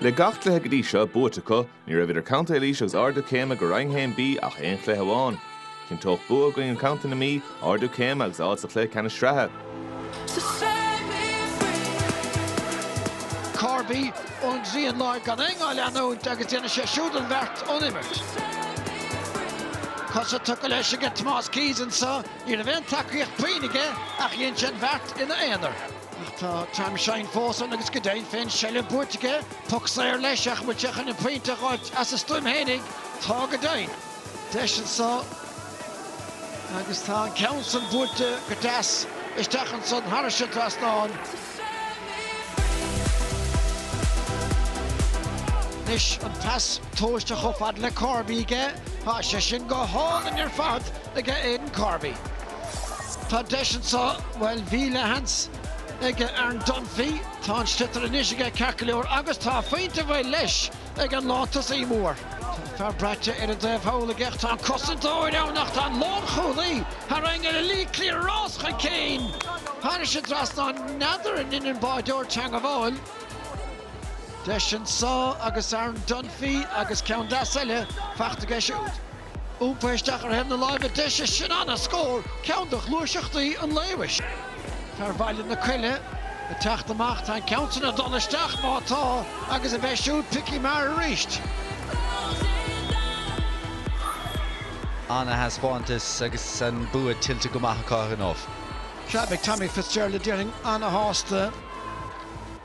Le gach cluiche go dtí seo buaite acu, ní raibh idir Contae Laoise agus Ardú Céime go Roinn 1B ach aon chluiche amháin. Chinnteodh bua i gcoinne Chontae na Mí, Ardú Céime agus áit sa chluiche ceannais sraithe. Corby ón dtrian láir gan éinne á leanúint agus déanann sé siúd an bheart ón imirt. Cosa tugtha leis aige Tomás Keyes anso, ní raibh aon tacaíocht puinn aige ach dhein sé an bheart ina aonar. Ach tá Tom Shine fós ann agus go deimhin féin seilbh buaite aige. Poc saor leis ach an bhfuil sé chun an pointe a ghoid as a stuaim fhéinig? Tá go deimhin. Deis anso agus tá an ceann san buailte go deas isteach ansan thairis an trasnán. Anois an pas tomhaiste chomh fada le Corby aige. Tá sé sin go hálainn ar fad aige Aidan Corby. Tá deis anso, bhuel, bhí leathsheans aige Aaron Dunphy, tá an sliotar anois aige ceart go leor agus tá a phointe buailte leis ag an lántosaí mór. Tá an fear braite ar an taobh thall aige ach tá an cosantóir ann ach tá an lánchúlaí tar éis tarraingt ar Lee Cleere rás chun cinn. Tháinig sé trasna, n'fheadar an ndein an báireoir teangmháil. Deis anso aige Aaron Dunphy agus ceann deas eile faighte aige siúd. Iompaigh isteach ar thaobh na láimhe deise, sin ana-scór, ceann de ghluaiseachtaí an lae, mhuis. Fear Bhaile na Coille ag teacht amach, tá an ceann sin ag dul isteach, má tá, agus aige siúd, Picky Maher arís. Ana-thaispeántas agus an bua tuillte go maith acu gan amhras. Sea, beidh Tommy Fitzgerald, déarfainn, ana-shásta.